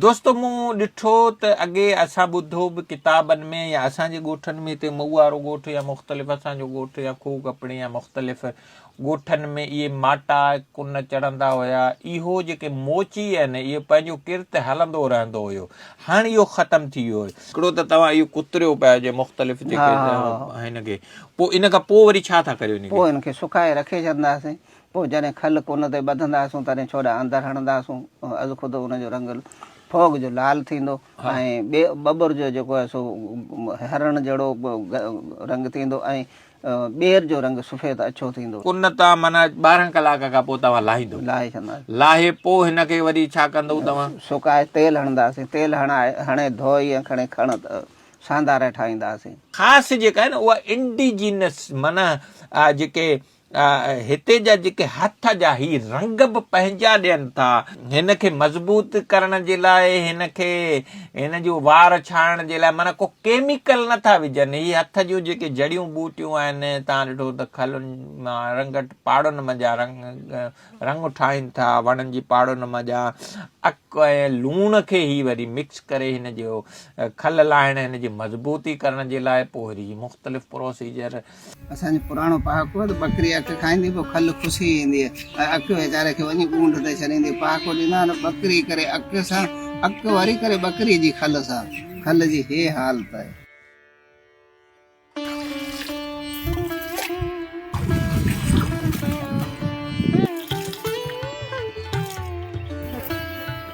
دوستو مون ڏٺو ته اڳي اسان ٻڌو به ڪتابن ۾ يا اسان جي ڳوٺن ۾ هتي مئو وارو ڳوٺ يا مختلف اسان جو ڳوٺ يا کوهه ڪپڻي يا مختلف ڳوٺن ۾ اهي ماٽا ڪن چڙهندا هيا اهو جيڪي موچي آهن اهو پنهنجو ڪرت هلندو رهندو هيو هاڻ اهو ختم ٿي ويو هيو. هڪڙو ته توهان اهو ڪتريو پيا هجي مختلف جيڪي هن کي پوء ان کان پوء وري ڇا ٿا ڪريو ان کي. پوء ان کي سڪائي رکي ڇڏنداسين پوء جڏهن کل ڪن تي ٻڌنداسون تڏهن ڇوڏا اندر هڻنداسون از خود ان جو رنگ ڦوڳ جو لال ٿيندو ۽ ٻي ٻٻر جو جيڪو آهي سو هرڻ جهڙو رنگ ٿيندو ۽ ٻير جو رنگ سفيد اڇو ٿيندو. ڪن تان معنيٰ ٻارهن ڪلاڪ کان پوء توهان لاهيندو. لاهي ڇڏنداسين. لاهي پوء هن کي وري ڇا ڪندؤ توهان؟ سڪائي تيل هڻنداسين. تيل هڻائي هڻي ڌوئي ۽ کڻي کڻ سانداري ٺاهينداسين. خاص جيڪا آهي نه اها انڊيجينس معنيٰ جيڪي هتي جا جيڪي هٿ جا هي رنگ به پنهنجا ڏين ٿا. هن کي مضبوط ڪرڻ جي لاء هن کي هن جون وار ڇاڻڻ جي لاء معنيٰ ڪو ڪيميڪل نه ٿا وجهن. هي هٿ جون جيڪي جڙيون ٻوٽيون آهن تان ڏٺو ته کلن مان رنگٽ پاڙن منجهان رنگ رنگ ٺاهين ٿا وڻن جي پاڙن منجهان اڪ ۽ لوڻ کي هي وري مڪس ڪري هن جو کل لاهڻ هن جي مضبوطي ڪرڻ جي لاء پوء وري مختلف پروسيجر اسان جو پراڻو پهاڪو آهي ته ٻڪري اک کائيندي پوء کل کسي ايندي آهي ۽ اک ويچاري کي وڃي ڳونڍ تي ڇڏيندي پهاڪو ڏيندا آهن ٻڪري ڪري اک سان اک وري ڪري ٻڪري جي کل سان کل جي هي حالت آهي.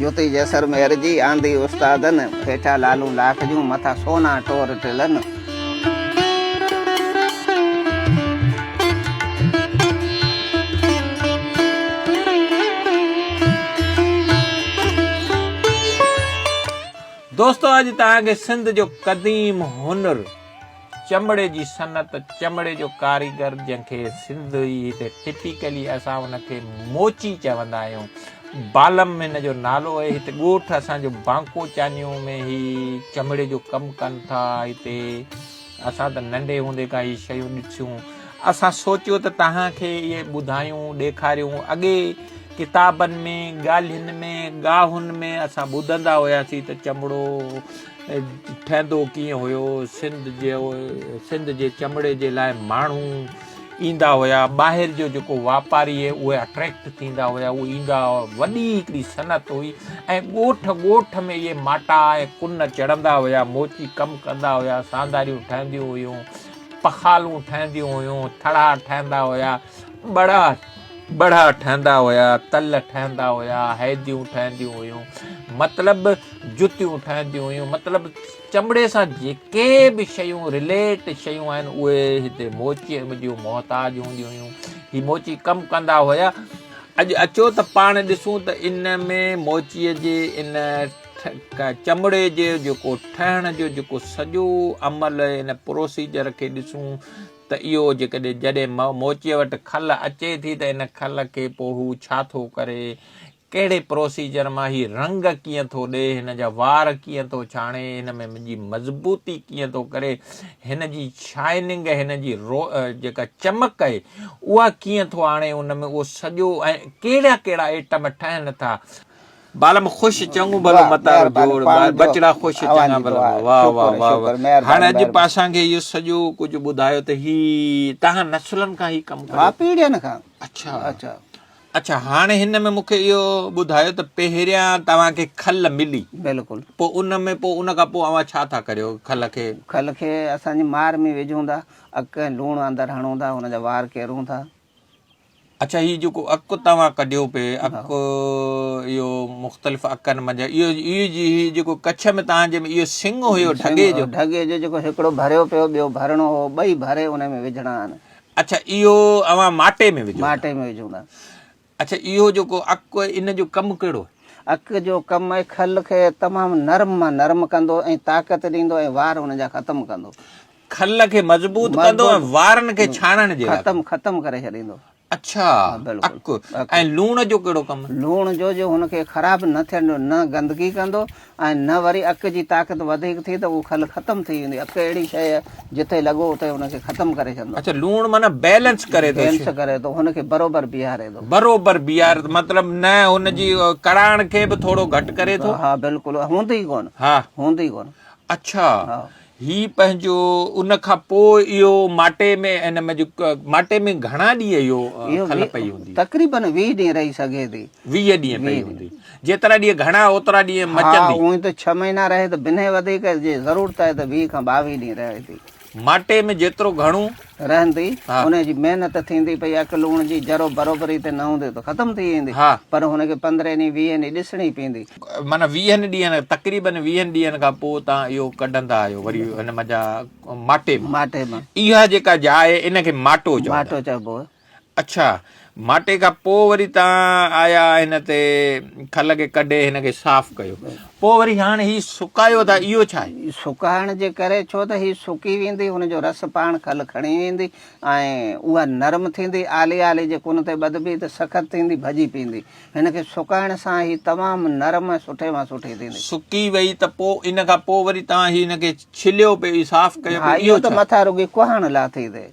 جوتي جسر مهر جي، آندي استادن. هيٺا لالون لاک جون، مٿا سونا ٽور ٽلن. دوستو اڄ توهان کي سنڌ جو قديم هنر. چمڙي جي صنعت، چمڙي جو ڪاريگر جنهن کي سنڌي هتي ٽپيڪلي اسان ان کي موچي چوندا آهيون، بالم هن جو نالو آهي، هتي ڳوٺ اسان جو بانڪو چانيو ۾ هي چمڙي جو ڪم ڪن ٿا، هتي اسان ته ننڍي هوندي کان هي شيون ڏٺيون، اسان سوچيو ته توهان کي اهي ٻڌايون، ڏيکاريون، اڳي ڪتابن ۾ ڳالهين ۾ ڳاهن ۾ اسان ٻڌندا هياسين ته چمڙو ٺهندو ڪيئن هيو، سنڌ جي چمڙي جي لاء ماڻهو ايندا هيا، ٻاهر جو جيڪو واپاري اهي اٽريڪٽ ٿيندا هيا، اهي ايندا هيا، وڏي هڪڙي صنعت هئي ۽ ڳوٺ ڳوٺ ۾ اهي ماٽا ۽ ڪن چڙهندا هيا، موچي ڪم ڪندا هيا، سانداريون ٺهنديون هيون، پخالون ٺهنديون هيون، ٿڙها ٺهندا هيا. ٻڙا ٻڙا ٺهندا هيا، تل ٺهندا هيا، هيديون ٺهنديون هيون، مطلب جتيون ٺهنديون هيون، مطلب چمڙي سان جيڪي به شيون رليٽ شيون آهن اهي هتي موچي جون محتاج هونديون هيون هي موچي ڪم ڪندا هيا اڄ اچو ته پاڻ ڏسون ته ان ۾ موچيء جي ان چمڙي جي جيڪو ٺهڻ جو جيڪو سڄو عمل ان پروسيجر کي ڏسون ته اهو جيڪڏهن جڏهن موچيء وٽ کل اچي ٿي ته ان کل کي پوء هو ڇا ٿو ڪري، ڪهڙي پروسيجر مان هي رنگ ڪيئن ٿو ڏئي، هن جا وار ڪيئن ٿو ڇاڻي، هن ۾ جي مضبوطي ڪيئن ٿو ڪري، هن جي شائننگ، هن جي جيڪا چمڪ اهي اها ڪيئن ٿو آڻي، ان ۾ اهو سڄو ۽ ڪهڙا ڪهڙا ائٽم ٺهن ٿا. بالم خوش چڱو ڀلو متارو جوڙ ٻچڙا خوش چڱا ڀلا واه واه واه واه هاڻ اڄ به اسان کي اهو سڄو ڪجهه ٻڌايو ته هي تهان نسلن کان هي ڪم ڪريو ها پيڙهين کان اڇا اڇا اڇا هاڻ هن ۾ مون کي اهو ٻڌايو ته پهريان توهان کي کل ملي بلڪل پوء ان ۾ پوء ان کان پوء اوهان ڇا ٿا ڪريو کل کي کل کي اسان جي مار ۾ وجهون ٿا اڳ ڪنهن لوڻ اندر هڻون ٿا ان جا وار ڪيرون ٿا اڇا هي جيڪو اڪ توهان ڪڍيو پئي اڪ اهو مختلف اڪن منجهان اهو اهو جي هي جيڪو ڪڇ ۾ توهان جي ۾ اهو سنگ هيو ڍڳي جو ڍڳي جو جيڪو هڪڙو ڀريو پيو ٻيو ڀرڻو هو ٻئي ڀري ان ۾ وجهڻا آهن اڇا اهو اوهان ماٽي ۾ وجهو ماٽي ۾ وجهون ٿا اڇا اهو جيڪو اڪ ان جو ڪم ڪهڙو اڪ جو ڪم آهي کل کي تمام نرم مان نرم ڪندو ۽ طاقت ڏيندو ۽ وار ان جا ختم ڪندو کل کي مضبوط ڪندو ۽ وارن کي ڇاڻڻ جي لاء ختم ختم ڪري ڇڏيندو اڇا اڪ ۽ لوڻ جو ڪهڙو ڪم لوڻ جو جو هن کي خراب نه ٿيڻ ڏيندو نه گندگي ڪندو ۽ نه وري اڪ جي طاقت وڌيڪ ٿي ته اهو کل ختم ٿي ويندي اڪ اهڙي شيء جتي لڳو اتي هن کي ختم ڪري ڇڏندو اچھا لوڻ معنی بيلنس ڪري ٿو بيلنس ڪري ٿو هن کي برابر بيهاري ٿو برابر بيهار مطلب نه هن جي ڪڙاڻ کي به ٿورو گهٽ ڪري ٿو ها بلڪل هوندي ڪون ها هوندي ڪون اچھا هي پنهنجو ان کان پوء اهو ماٽي ۾ ان ۾ جو ماٽي ۾ گهڻا ڏينهن اهو کل پئي هوندي تقريبا 20 ڏينهن رهي سگهي ٿي 20 ڏينهن پئي هوندي جيترا ڏينهن گهڻا اوترا ڏينهن مچندي ها هونئن ته 6 مهينا رهي ته بنهه وڌيڪ جي ضرورت آهي ته 20 کان 22 ڏينهن رهي ٿي ماٽي ۾ جيترو گهڻو رهندي ان جي محنت ٿيندي پئي اک لوڻ جي ذرو برابري تي نه هوندي ته ختم ٿي ويندي پر هن کي پندرهن ڏينهن ويهن ڏينهن ڏسڻي پيندي. معنيٰ ويهن ڏينهن تقريبن ويهن ڏينهن کان پوء تان اهو ڪڍندا آهيو وري هن منجهان ماٽي مان ماٽي مان اها جيڪا جاء ان کي ماٽو چئبو ماٽو چئبو اڇا، ماٽي کان پوء وري تان آيا هن تي کل کي ڪڍي هن کي صاف ڪيو پوء وري هاڻ هي سڪايو ٿا اهو ڇا آهي؟ سڪائڻ جي ڪري ڇو ته هي سڪي ويندي هن جو رس پاڻ کل کڻي ويندي ۽ اها نرم ٿيندي آلي آلي جي ڪن تي ٻڌبي ته سخت ٿيندي ڀڄي پيندي هن کي سڪائڻ سان هي تمام نرم ۽ سٺي مان سٺي ٿيندي. سڪي وئي ته پوء ان کان پوء وري تان هي هن کي ڇليو پئي صاف ڪيو پئي اهو ڇا؟ ها اهو ته مٿان رڳي ڪهاڻ لاٿي تي.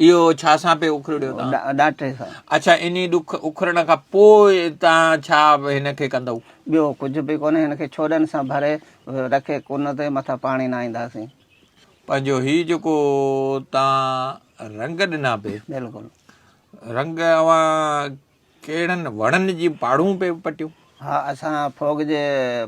اهو ڇا سان پئي اکرڙيو توهان؟ ڏاٽي سان. اڇا انهي ڏک اکرڻ کان پوء توهان ڇا هن کي ڪندؤ؟ ٻيو ڪجهه به ڪونهي هن کي ڇوڏن سان ڀري رکي ڪن تي مٿان پاڻي نهائينداسين. پنهنجو هي جيڪو توهان رنگ ڏنا پئي. بلڪل. رنگ اوهان ڪهڙن وڻن جي پاڙون پئي پٽيون؟ ها اسان ڦوڳ جي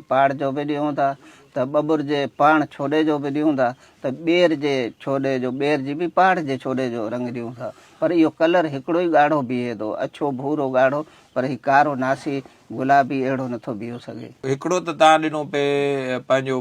پاڙ جو به ڏيون ٿا ته ٻٻر جي پاڻ ڇوڏي جو به ڏيون ٿا ته ٻير جي ڇوڏي جو ٻير جي به پاڙ جي ڇوڏي جو رنگ ڏيون ٿا پر اهو ڪلر هڪڙو ئي ڳاڙهو بيهي ٿو اڇو ڀورو ڳاڙهو پر هي ڪارو ناسي گلابي اهڙو نٿو بيهو سگهي. هڪڙو ته تان ڏنو پئي پنهنجو.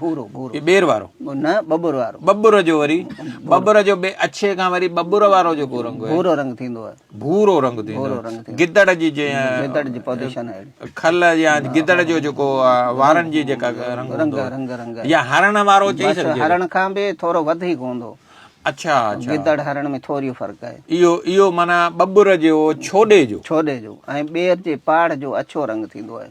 ڀورو ڀورو هي ٻير وارو نه ٻٻر وارو ٻٻر جو وري ٻٻر جو بي اڇي کان وري ٻٻر وارو جو کو رنگ ڀورو رنگ ٿيندو آهي ڀورو رنگ ٿيندو آهي گدڙ جي جي گدڙ جي پوزيشن آهي کل يا گدڙ جو جو کو وارن جي جيڪا رنگ رنگ رنگ رنگ يا هرن وارو چي سڪجي هرن کان به ٿورو وڌيڪ هوندو اچھا اچھا گدڙ هرن ۾ ٿوري فرق آهي ايو ايو معنی ٻٻر جو ڇوڏي جو ڇوڏي جو ۽ ٻير جي پاڙ جو اڇو رنگ ٿيندو آهي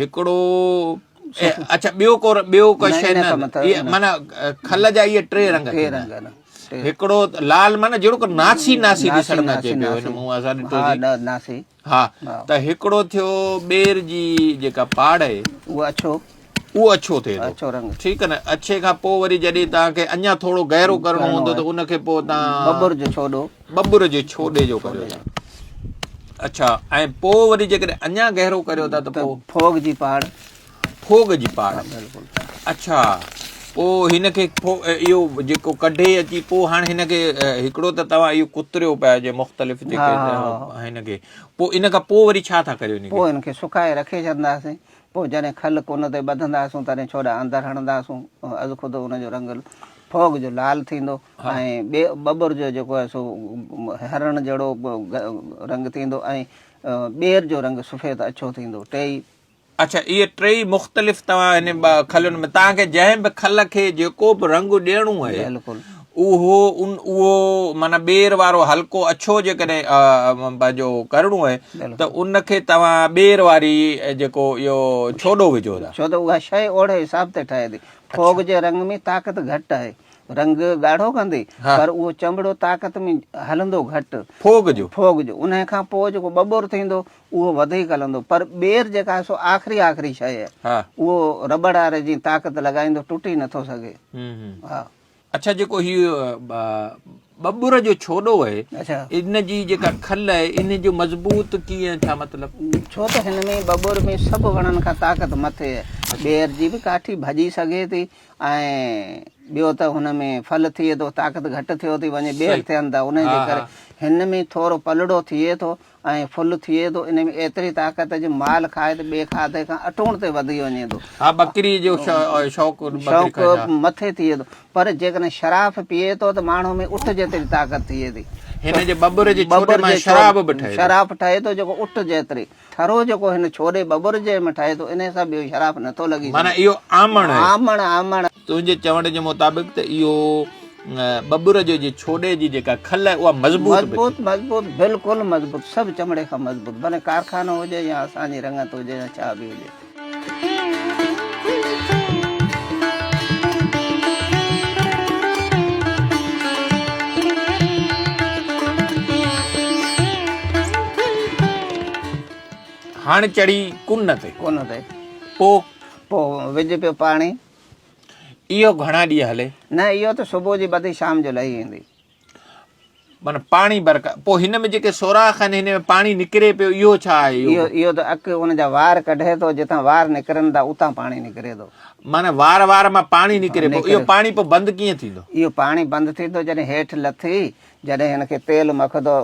هڪڙو اڇا ٻيو ڪو ٻيو ڪو شي نه معنی کل جا اهي ٽي رنگ ٽي رنگ هڪڙو لال معنی جهڙو ڪو ناسي ناسي ڏسڻ ۾ اچي پيو هن مون اسان ڏٺو ها ناسي ها ته هڪڙو ٿيو ٻير جي جيڪا پاڙ آهي اهو اڇو اهو اڇو ٿئي اڇو رنگ ٺيڪ نه اڇي کان پوء وري جڏهن تان کي اڃا ٿورو گهرو ڪرڻو هوندو ته ان کي پوء تان ببر جو ڇوڏو ٻٻر جي ڇوڏي جو ڪريو ٿا. اڇا ۽ پوء وري جيڪڏهن اڃا گهرو ڪريو ٿا ته پوء ڦوڳ جي پاڙ. ڦوڳ جي پاڙ اڇا پوء هن کي اهو جيڪو ڪڍي اچي پوء هاڻ هن کي هڪڙو ته توهان اهو ڪتريو پيا جي مختلف جيڪي هن کي پوء ان کان پوء وري ڇا ٿا ڪريو ان کي پوء ان کي سڪائي رکي ڇڏنداسين پوء جڏهن کل ڪن تي ٻڌنداسون تڏهن ڇوڏا اندر هڻنداسون از خود ان جو رنگ ڦوڳ جو لال ٿيندو. ٻيو ٻٻر جو جيڪو آهي سو هرڻ جهڙو رنگ ٿيندو ۽ ٻير جو رنگ سفيد اڇو ٿيندو ٽيئي. اڇا اهي ٽيئي مختلف توهان هن کلين ۾ توهان کي جنهن به کل کي جيڪو به رنگ ڏيڻو آهي بلڪل اهو ان اهو معنيٰ ٻير وارو هلڪو اڇو جيڪڏهن پنهنجو ڪرڻو آهي ته ان کي توهان ٻير واري جيڪو اهو ڇوڏو وجهو ٿا. ڇو ته اها شيء اوڙي حساب تي ٺهي ٿي. ڦوڳ جي رنگ ۾ طاقت گهٽ آهي رنگ ڳاڙهو ڪندي پر اهو چنبڙو طاقت ۾ هلندو گهٽ ڦوڳ جو ڦوڳ جو انهي کان پوء جيڪو ٻٻور ٿيندو اهو وڌيڪ هلندو پر ٻير جيڪا آهي سو آخري آخري شيء آهي اهو رٻڙ واري جيئن طاقت لڳائيندو ٽٽي نٿو سگهي ها اڇا جيڪو هي ٻٻور جو ڇوڏو آهي اڇا ان جي جيڪا کل آهي ان جو مضبوط ڪيئن ڇا مطلب ڇو ته هن ۾ ٻٻور ۾ سڀ وڻن کان طاقت مٿي آهي ٻير جي به ڪاٺي ڀڄي سگهي ٿي ۽ ٻيو ته هن ۾ ڦل ٿئي ٿو طاقت گهٽ ٿيو ٿي وڃي ٻير ٿين ٿا انهي جي ڪري هن ۾ ٿورو پلڙو ٿئي ٿو ۽ ڦل ٿئي ٿو انهي ۾ ايتري طاقت جو مال کائي ته ٻي کاڌي کان اٽوڻ تي وڌي وڃي ٿو ها ٻڪري جو شوق شوق مٿي ٿئي ٿو پر جيڪڏهن شراف پيئي ٿو ته ماڻهو ۾ اٺ جيتري طاقت ٿئي ٿي هن جي ٻٻر جي ٻٻر ۾ شراب به ٺهي شراف ٺهي ٿو جيڪو اٺ جيتري ٺرو جيڪو هن ڇوري ٻٻر جي م ٺاهي ٿو انهي سان ٻيو شراف نه ٿو لڳي سگهي. معنيٰ اهو آمڻ هي. آمڻ آمڻ. تنهنجي چوڻ جي مطابق ته اهو ٻٻر جو جي ڇوري جي جيڪا کل آهي اها مضبوط به ٿي. مضبوط مضبوط بلڪل مضبوط سڀ چمڙي کان مضبوط ڀلي ڪارخانو هجي يا اسان جي رڱت هجي يا ڇا به هجي. هڻ چڙي ڪن تي. ڪن تي. پو. پو وج پيو پاڻي. اهو گهڻا ڏينهن هلي. نه اهو ته صبح جي ٻڌي شام جو لهي ويندي. من پاڻي برڪا پو هن ۾ جيڪي سوراخ آهن هن ۾ پاڻي نڪري پيو اهو ڇا آهي اهو اهو ته اڪ ان جا وار ڪڍي ٿو جتان وار نڪرن ٿا اتان پاڻي نڪري ٿو من وار وار مان پاڻي نڪري پيو اهو پاڻي پو بند ڪيئن ٿيندو اهو پاڻي بند ٿيندو جڏهن هيٺ لٿي جڏهن هن کي تيل مکدو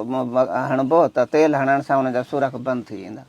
هڻبو ته تيل هڻڻ سان ان جا سوراخ بند ٿي ويندا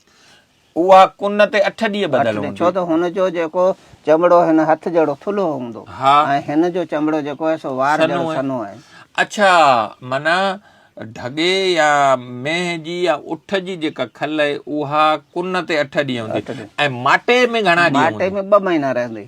اها ڪن تي اٺ ڏينهن ٻڌل هوندي. ڇو ته هن جو جيڪو چمڙو هن هٿ جهڙو ٿلهو هوندو ۽ هن جو چمڙو جيڪو آهي سو وار جهڙو سنهو آهي. اڇا معنيٰ ڍڳي يا مينهن جي يا اٺ جي جيڪا کل آهي اها ڪن تي اٺ ڏينهن هوندي ۽ ماٽي ۾ گهڻا ڏينهن هوندي؟ ماٽي ۾ ٻه مهينا رهندي.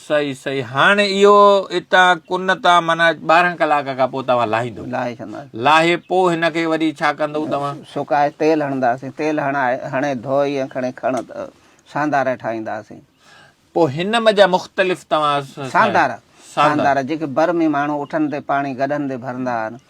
صحيح صحيح هاڻ اهو اتان ڪن تان معنيٰ ٻارهن ڪلاڪ کان پوء توهان لاهيندو لاهي ڇڏنداسين لاهي پوء هن کي وري ڇا ڪندو توهان سڪائي تيل هڻنداسين تيل هڻائي هڻي ڌوئي ۽ کڻي کڻ ساندارا ٺاهينداسين پوء هن م جا مختلف توهان ساندارا ساندارا جيڪي بر ۾ ماڻهو اٺن تي پاڻي گڏهن تي ڀرندا آهن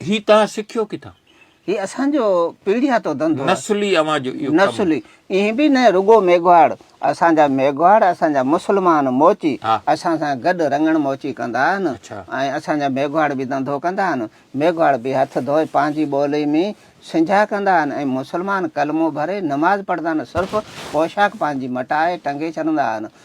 هي توهان سکيو ڪٿان؟ هي اسان جو پيڙهياتو ڌنڌو آهي. نسلي اوهان جو اهو ڪم. نسلي ائين به نه رڳو ميگهواڙ اسان جا ميگهواڙ اسان جا مسلمان موچي اسان سان گڏ رڱڻ موچي ڪندا آهن ۽ اسان جا ميگهواڙ به ڌنڌو ڪندا آهن. ميگهواڙ به هٿ ڌوئي پنهنجي ٻولي ۾ سنجهه ڪندا آهن ۽ مسلمان ڪلمو ڀري نماز پڙهندا آهن صرف پوشاڪ پنهنجي مٽائي ٽنگي ڇڏندا آهن.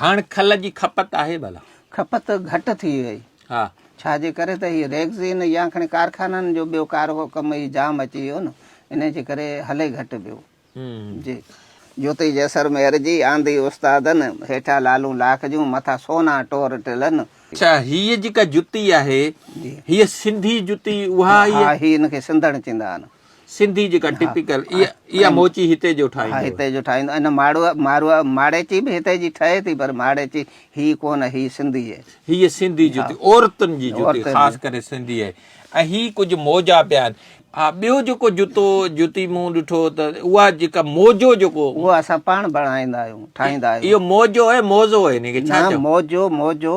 هاڻ کل جي کپت آهي ڀلا؟ کپت گهٽ ٿي وئي. ها. ڇا جي ڪري ته هي ريگزين يا کڻي ڪارخانن جو ٻيو ڪارهو ڪم ئي جام اچي ويو نه انهي جي ڪري هلي گهٽ پيو. جي. جوتي جيسرمير جي آندي استادن، هيٺان لالون لاک جون، مٿان سونا ٽور ٽلن. اڇا هيء جيڪا جتي آهي هيء سنڌي جتي اها ئي آهي؟ ها هي ان کي سنڌڻ چيندا آهن. سنڌي جيڪا ٽپيڪل اها موچي هتي جو ٺاهيندو آهي. هتي جو ٺاهيندو آهي. ماڙو ماڙيچي به هتي جي ٺهي ٿي پر ماڙيچي هي ڪونه هي سنڌي آهي. هيء سنڌي جتي عورتن جي جتي خاص ڪري سنڌي آهي ۽ هي ڪجهه موجا پيا آهن. ها ٻيو جيڪو جتو جتي مون ڏٺو ته اها جيڪا موجو جيڪو اهو اسان پاڻ بڻائيندا آهيون ٺاهيندا آهيون. اهو موجو آهي موزو آهي ان کي ڇا چئبو. نه موجو موجو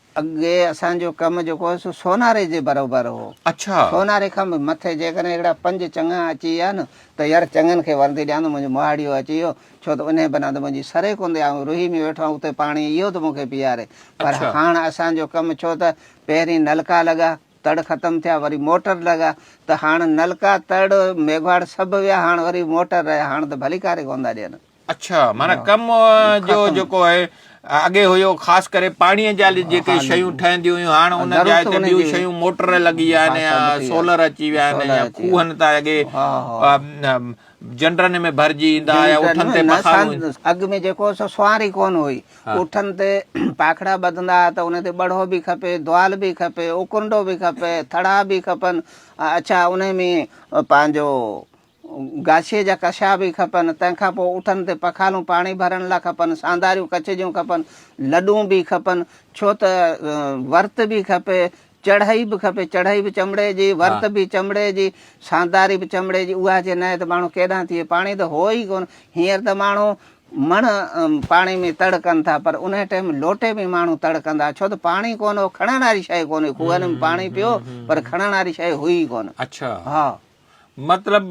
اڳي اسان جو ڪم جيڪو هو سو سوناري جي بروبر هو. اڇا. سوناري کان به مٿي جيڪڏهن اهڙا پنج چڱا اچي ويا نه ته يار چڱن کي وردي ڏيان ته منهنجو مهاڙيو اچي ويو ڇو ته انهي بنا ته منهنجي سري ڪوندي آئون روهي ۾ ويٺو آهيان اتي پاڻي اهو ٿو مون کي پيئاري پر اڇا. هاڻ اسان جو ڪم ڇو ته پهرين نلڪا لڳا تڙ ختم ٿيا وري موٽر لڳا ته هاڻ نلڪا تڙ ميگهواڙ سڀ ويا هاڻ وري موٽر رهيا هاڻ ته ڀليڪاري ڪوندا ڏين. اڇا معنيٰ ڪم جو جيڪو آهي اڳي هيو خاص ڪري پاڻيء جا جيڪي شيون ٺهنديون هيون هاڻ ان جاء تي ٻيون شيون موٽر لڳي ويا آهن يا سولر اچي ويا آهن يا کوهن تان اڳي جنڊرن ۾ ڀرجي ايندا هيا اٺن تي پکارون اڳ ۾ جيڪو سو سوار ئي ڪونه هئي اٺن تي پاکڙا ٻڌندا ها ته ان تي ٻڙهو به کپي دوال به کپي اوڪنڊو به کپي ٿڙا به کپن اڇا انهي ۾ پنهنجو گاشي جا ڪشا به کپن تنهن کان پوء اٺن تي پخالون پاڻي ڀرڻ لا کپن سانداريون ڪچ جون کپن لڏون به کپن ڇو ته ورت به کپي چڙهئي به کپي چڙهئي به چمڙي جي ورت به چمڙي جي سانداري به چمڙي جي اها جي ناهي ته ماڻهو ڪيڏانهن ٿئي پاڻي ته هو ئي ڪونه هينئر ته ماڻهو مڻ پاڻي ۾ تڙ ڪن ٿا پر انهي ٽيم لوٽي ۾ ماڻهو تڙ ڪندا ڇو ته پاڻي ڪونه هو کڻڻ واري شيء ڪونه هئي کوهن ۾ پاڻي پيو پر کڻڻ واري شيء هئي ئي ڪونه اڇا ها مطلب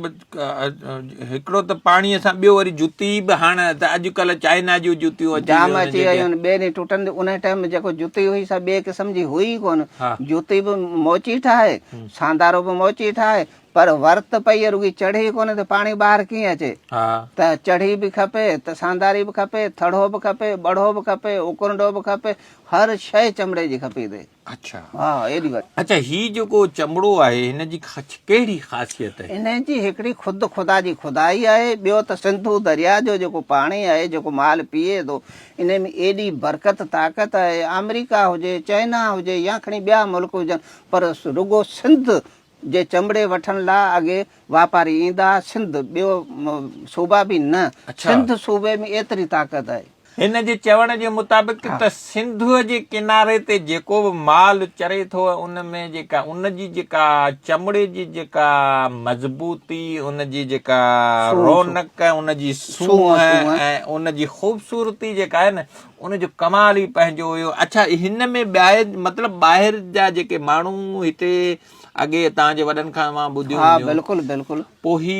هڪڙو ته پاڻي سان ٻيو وري جتي به هاڻ ته اڄڪلهه چائنا جون جتيون اچي جام ويون اچي ويون آهن ٻيري ٽٽن تي ان ٽائيم ۾ جيڪو جتي هئي سا ٻئي قسم جي هئي ئي ڪونه ها. جتي به موچي ٺاهي ساندارو به موچي ٺاهي پر ورت پئي رڳي چڙهي ڪونه ته پاڻي ٻاهر ڪيئن اچي ها. ته چڙهي به کپي ته سانداري به کپي ٿڙهو به کپي ٻڙهو به کپي اڪرنڊو به کپي هر شيء چمڙي جي کپي تي اڇا ها ايڏي وڏي. اڇا هي جيڪو چمڙو آهي هن جي ڪهڙي خاصيت آهي. هن جي هڪڙي خود خدا جي خدائي آهي ٻيو ته سنڌو درياء جو جيڪو پاڻي آهي جيڪو مال پيئي ٿو ان ۾ ايڏي برڪت طاقت آهي آمريڪا هجي چائنا هجي يا کڻي ٻيا ملڪ هجن پر رڳو سنڌ جي چمڙي وٺڻ لا اڳي واپاري ايندا ها سنڌ ٻيو صوبا به نه سنڌ صوبي ۾ ايتري طاقت آهي. هن جي چوڻ جي مطابق ته سنڌوء جي ڪناري تي جيڪو به مال چري ٿو ان ۾ جيڪا ان جي جيڪا چمڙي جي جيڪا مضبوطي ان جي جيڪا رونق ان جي سونهن ۽ ان جي خوبصورتي جيڪا آهي نه ان جو ڪمال ئي پنهنجو هيو. اڇا هن ۾ ٻاهر مطلب ٻاهر جا جيڪي ماڻهو هتي اڳي تان جي وڏن کان اوهان ٻڌيو هونديون. ها بلڪل بلڪل. پوء هي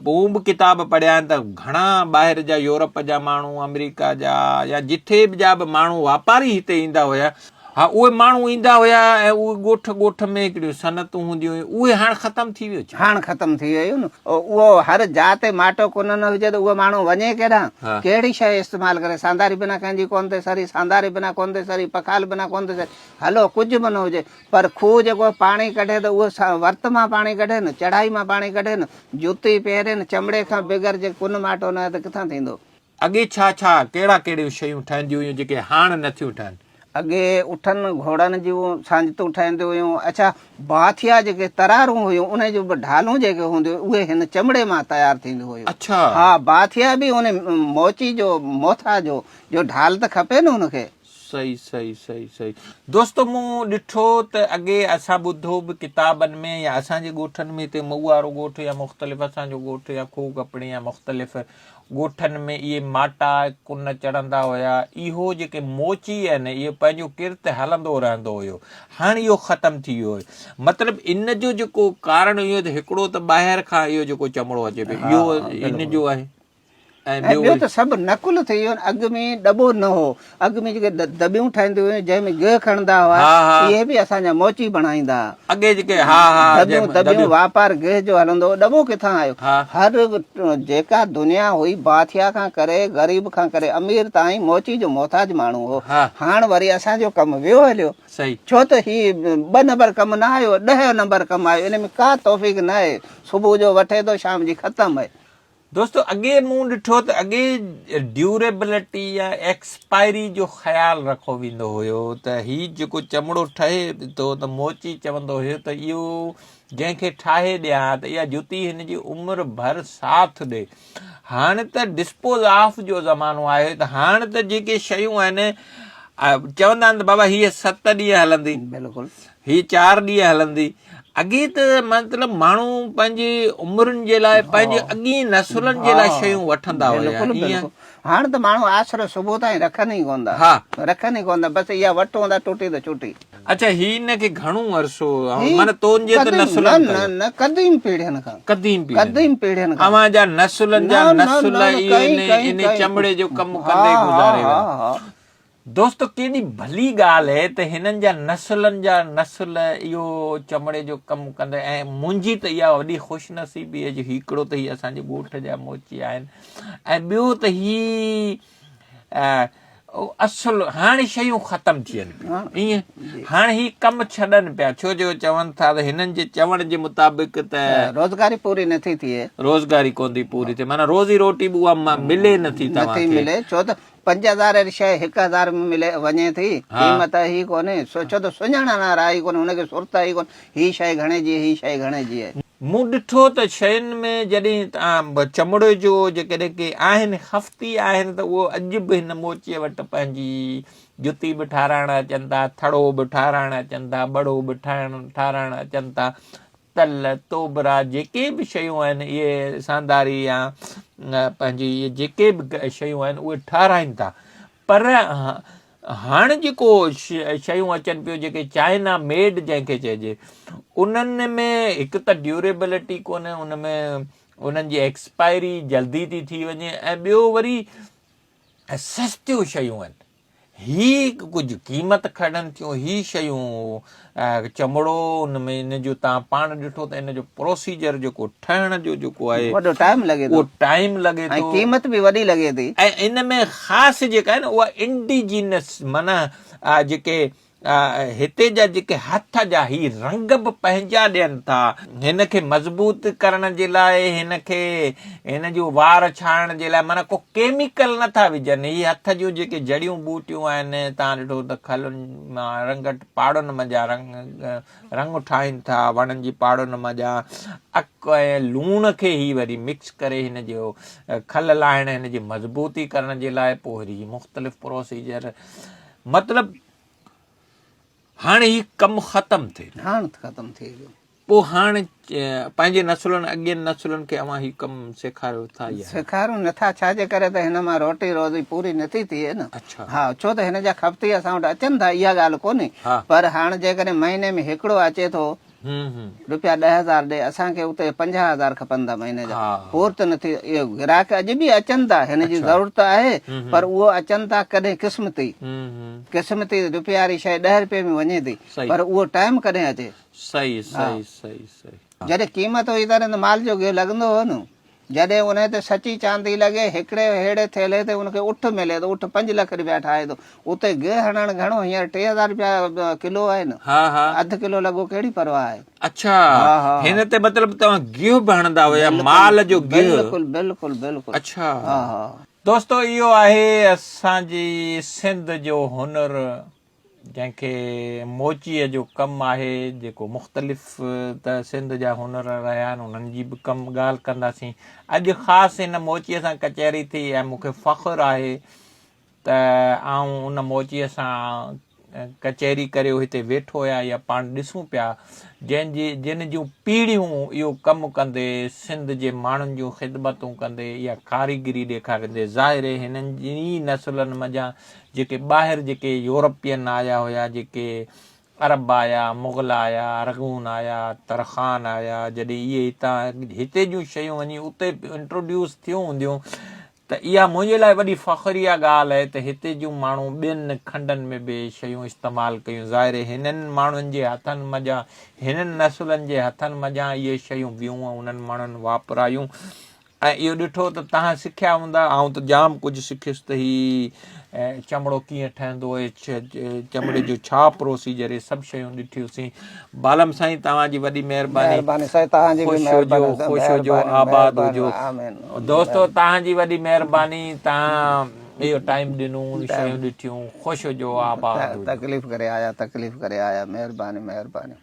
پوء مون به ڪتاب پڙهيا آهن ته گهڻا ٻاهر جا يورپ جا ماڻهو آمريڪا جا يا جٿي جا به ماڻهو واپاري هتي ايندا هيا. ها اهي ماڻهو ايندا هيا ۽ اهي ڳوٺ ڳوٺ ۾ هڪڙيون صنعتون هونديون هيون اهي هاڻ ختم ٿي ويو ڇا؟ هاڻ ختم ٿي ويون اهو هر جاء تي ماٽو ڪونه نه هجي ته اهو ماڻهو وڃي ڪيڏانهن ڪهڙي شيء استعمال ڪري سانداري بنا ڪنهن جي ڪونه ٿي سري سانداري بنا ڪونه ٿي سري پکال بنا ڪونه ٿي سري هلو ڪجهه به نه هجي پر کوهه جيڪو پاڻي ڪڍي ته اهو ورت مان پاڻي ڪڍي نه چڙهائي مان پاڻي ڪڍي نه جوتي پهري نه چمڙي کان بغير جي ڪونه ماٽو نه آهي ته ڪٿان ٿيندو. اڳي ڇا ڇا، ڪهڙا ڪهڙيون شيون ٺهنديون هيون جيڪي هاڻ نه ٿيون ٺهن؟ اڳي اٺن گهوڙن جون ساڃتون ٺهنديون هيون. اڇا باٿيا جيڪي ترارون هيون انهن جون به ڍالون جيڪي هونديون هيون اهي هن چمڙي مان تيار ٿينديون هيون. اڇا. ها باٿيا به ان موچي جو موٿا جو جو ڍال ته کپي نه ان کي. صحيح صحيح صحيح صحيح دوستو مون ڏٺو ته اڳي اسان ٻڌو به ڪتابن ۾ يا اسان جي ڳوٺن ۾ هتي مئوارو ڳوٺ يا مختلف اسان جو ڳوٺ يا کوھ ڳپڻي يا مختلف ڳوٺن ۾ اهي ماٽا ڪن چڙهندا هيا. اهو جيڪي موچي آهن اهو پنهنجو ڪرت هلندو رهندو هيو. هاڻ اهو ختم ٿي ويو آهي. مطلب ان جو جيڪو ڪارڻ اهو ته هڪڙو ته ٻاهر کان اهو جيڪو چمڙو اچي پيو اهو ان جو آهي. ۽ ٻيو ته سڀ نقل ٿي ويو آهن. اڳ ۾ ڏٻو نه هو. اڳ ۾ جيڪي دٻيون ٺاهينديون هيون جنهن ۾ گيهه کڻندا هئا اهي به اسان جا موچي بڻائيندا ها دٻيون دٻيون واپار گيهه جو هلندو هو ڏبو ڪٿان آيو هر جيڪا دنيا هئي باٿيا کان ڪري غريب کان ڪري امير تائين موچي جو محتاج ماڻهو هو هاڻ وري اسان جو ڪم ويو هليو ڇو ته هي ٻه نمبر ڪم نه آيو ڏهه نمبر ڪم آيو ان ۾ ڪا توفيق نه آهي صبح جو وٺي ٿو شام جي ختم دوستو اڳي مون ڏٺو ته اڳي ڊيوريبلٽي يا ايڪسپائري جو خيال رکو ويندو هيو ته هي جيڪو چمڙو ٺهي ٿو ته موچي چوندو هيو ته اهو جنهن کي ٺاهي ڏيان ها ته اها جتي هن جي عمر ڀر ساٿ ڏي هاڻ ته ڊسپوز آف جو زمانو آيو ته هاڻ ته جيڪي شيون آهن چوندا آهن ته بابا هيء ست ڏينهن هلندي بلڪل هي چار ڏينهن هلندي. اڳي ته مطلب ماڻهو پنهنجي عمرن جي لاء پنهنجي اڳين نسلن جي لاء شيون وٺندا هيا ائين. هاڻ ته ماڻهو آسرو صبح تائين رکن ئي ڪون ٿا. رکن ئي ڪون ٿا بس اها وٽ هوندا ٽٽي ته ڇٽي. اڇا هي هن کي گهڻو عرصو معنيٰ تنهنجي ته نسلن نه نه قديم پيڙهين کان. قديم پيڙهين. قديم پيڙهين کان. اوهان جا نسلن جا نسل اهي انهي چمڙي جو ڪم ڪندي گذاري ويا. دوستو ڪيڏي ڀلي ڳالهه اهي ته هنن جا نسلن جا نسل اهو چمڙي جو ڪم ڪندا ۽ منهنجي ته اها وڏي خوش نصيبي اهي جو هيڪڙو ته هي اسان جي ڳوٺ جا موچي آهن ۽ ٻيو ته هي اصل هاڻي شيون ختم ٿين پيون ايئن هاڻي هي ڪم ڇڏن پيا ڇو جو چون ٿا ته هنن جي چوڻ جي مطابق ته روزگاري پوري نٿي ٿئي روزگاري ڪون ٿي پوري ٿئي معنيٰ روزي روٽي به اها ملي نٿي توهان کي پنج هزار واري شيء هڪ هزار ۾ ملي وڃي ٿي قيمت هي ڪونهي سو ڇو ته سڃاڻڻ وارا هي ڪونهي هن کي سرت هي ڪونهي هي شيء گهڻي جي هي شيء گهڻي جي آهي. مون ڏٺو ته شين ۾ جڏهن چمڙي جو جيڪڏهن ڪي آهن خفتي آهن ته اهو اڄ به هن موچي وٽ پنهنجي جتي به ٺاراهڻ اچن ٿا ٿڙو به ٺاراهڻ اچن ٿا ٻڙو به ٺاراهڻ اچن ٿا تل، توبرا جيڪي به شيون آهن اهي سانداري يا پنهنجي جيڪي به شيون آهن اهي ٺاراهين ٿا پر هاڻ جيڪو شيون اچن پيون جيڪي چائنا ميڊ جنهن کي چئجي انهن ۾ هڪ ته ڊيوريبلٽي ڪونهي ان ۾ انهن جي ايڪسپائري جلدي ٿي ٿي وڃي ۽ ٻيو وري سستيون شيون آهن هي ڪجهه قيمت کڻن ٿيون هي شيون چمڙو ان ۾ ان جو تان پاڻ ڏٺو ته ان جو پروسيجر جيڪو ٺهڻ جو جيڪو آهي وڏو ٽائيم لڳي ٿو اهو ٽائيم لڳي ٿو قيمت به وڏي لڳي ٿي ۽ ان ۾ خاص جيڪا آهي نه اها انڊيجينس معنيٰ جيڪي هتي جا جيڪي هٿ جا هي رنگ به پنهنجا ڏين ٿا. هن کي مضبوط ڪرڻ جي لاء هن کي هن جون وار ڇاڻڻ جي لاء معنيٰ ڪو ڪيميڪل نه ٿا وجهن. هي هٿ جون جيڪي جڙيون ٻوٽيون آهن تان ڏٺو ته کلن مان رنگٽ پاڙن منجهان رنگ رنگ ٺاهين ٿا وڻن جي پاڙن منجهان اڪ ۽ لوڻ کي هي وري مڪس ڪري هن جو کل لاهڻ هن جي مضبوطي ڪرڻ جي لاء پوري مختلف پروسيجر مطلب هاڻ هي ڪم ختم ٿئي پيو. هاڻ ختم ٿئي پيو. پوء هاڻ پنهنجي نسلن اڳين نسلن کي اوهان هي ڪم سيکاريو ٿا يا. سيکاريون نه ٿا ڇا جي ڪري ته هن مان روٽي روزي پوري نه ٿي ٿئي نه. اڇا. ها ڇو ته هن جا خفتي اسان وٽ اچن ٿا اها ڳالهه ڪونهي پر هاڻ جيڪڏهن مهيني ۾ هڪڙو اچي ٿو روپيا ڏهه هزار ڏي اسان کي اتي پنجاهه هزار کپن ٿا مهيني جا پورت نه ٿي اهي گراهڪ اڄ به اچن ٿا هن جي ضرورت آهي پر اهو اچن ٿا ڪڏهن قسمتي قسمتي روپيه واري شيء ڏهه روپيه ۾ وڃي ٿي پر اهو ٽائيم ڪڏهن اچي جڏهن قيمت هئي تڏهن ته مال جوڳيو لڳندو هو نه جڏهن انهيء تي سچي چاندي لڳي، هڪڙي ههڙي ٿيلهي تي ان کي اٺ ملي ٿو، اٺ پنج لک رپيا ٺاهي ٿو. اتي گيهه هڻڻ گهڻو، هينئر ٽي هزار رپيا ڪلو آهن. ها ها. اڌ ڪلو لڳو ڪهڙي پرواهه آهي. اڇا. ها ها. هن تي مطلب توهان گيهه به هڻندا هيا، مال جو گيهه. بلڪل بلڪل بلڪل. اڇا. ها ها. دوستو اهو آهي اسان جي سنڌ جو هنر. جنهن کي موچيء جو ڪم آهي، جيڪو مختلف ته سنڌ جا هنر رهيا آهن، انهن جي به ڪم ڳالهه ڪنداسين. اڄ خاص هن موچيء سان ڪچهري ٿي ۽ مون کي فخر آهي ته آئون ان موچيء سان ڪچهري ڪريو هتي ويٺو آهيان يا پاڻ ڏسون پيا، جنهن جي جن جون پيڙهيون اهو ڪم ڪندي، سنڌ جي ماڻهن جون خدمتون ڪندي يا ڪاريگري ڏيکاريندي، ظاهر هنن ئي نسلن منجهان جيڪي ٻاهر جيڪي يورپين آيا هيا جيڪي عرب آيا مغل آيا ارغون آيا ترخان آيا جڏهن اهي هتان هتي جون شيون وڃي اتي انٽروڊيوس ٿيون هونديون ته اها منهنجي لاء وڏي فخر اها ڳالهه آهي ته هتي جون ماڻهو ٻين کنڊن ۾ به شيون استعمال ڪيون ظاهر هنن ماڻهن جي هٿن منجهان هنن نسلن جي هٿن منجهان اهي شيون بيون انهن ماڻهن واپرايون ۽ اهو ڏٺو ته تهان سکيا هوندا، آئون ته ڄام ڪجهه سکيس ته هي چمڙو ڪيئن ٺهندو اهي چمڙي جو ڇا پروسيجر اهي سڀ شيون ڏٺيوسين بالم سائين توهان جي وڏي مهرباني خوش هجو خوش هجو آباد هجو دوستو توهان جي وڏي مهرباني توهان اهو ٽائيم ڏنو شيون ڏٺيون خوش هجو آباد هجو تڪليف ڪري آيا تڪليف ڪري آيا مهرباني مهرباني.